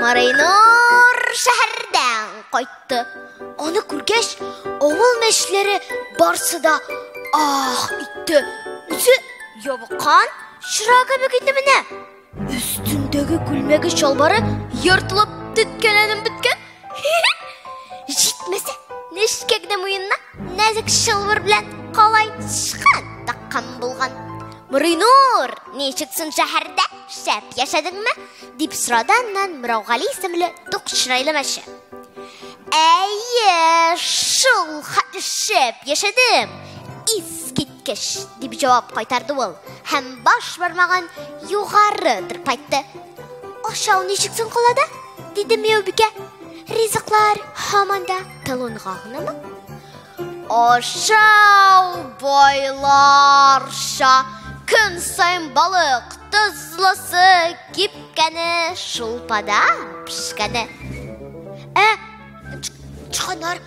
Марайнур шәһәрдән кайтты. Аны күргәч, авыл мәчләре барсы да ах итте. Үзе ябыккан чыра кебек иде менә. Өстендәге күлмәге чалбары ертылып төткәләнеп беткән. Җитмәсә, нечкә генә муенына Нәзек чылбыр белән калай сычкан таккан булган. Муринур, ничек соң шәһәрдә шәп яшәдеңме? дип сорады аннан Мираугали исемле тук чырайлы мәче. Әйе, шул хәтле шәп яшәдем. Искит Кеш, дип җавап кайтарды ул, һәм баш бармагын югары тырпайтты. Ашау ничек соң калада? диде Мияубикә. Ризыклар һаман да талонга гынамы? Ашау байларша көн саен балык тозлысы кипкәне шулпада пешкәне. Ә чыганар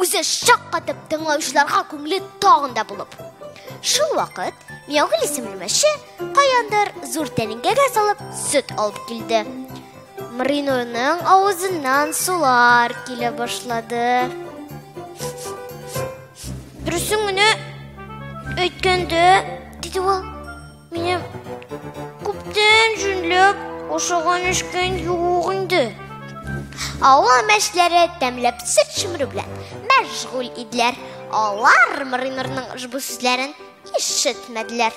Үзе шаккатып тыңлаучыларга күңеле тагын да булып. Шул вакыт Миягөл исемле мәче каяндыр зур тәлинкәгә салып сөт алып килде. Мринурның авызыннан сулар килә башлады. Дөресен генә әйткәндә, диде ул. Минем күптән җүнләп ашаган эшкән юк инде. Авыл мәшләре тәмләп сыр чөмерү белән мәшгуль иделәр. Алар Мринорның ошбу сүзләрен ишетмәделәр.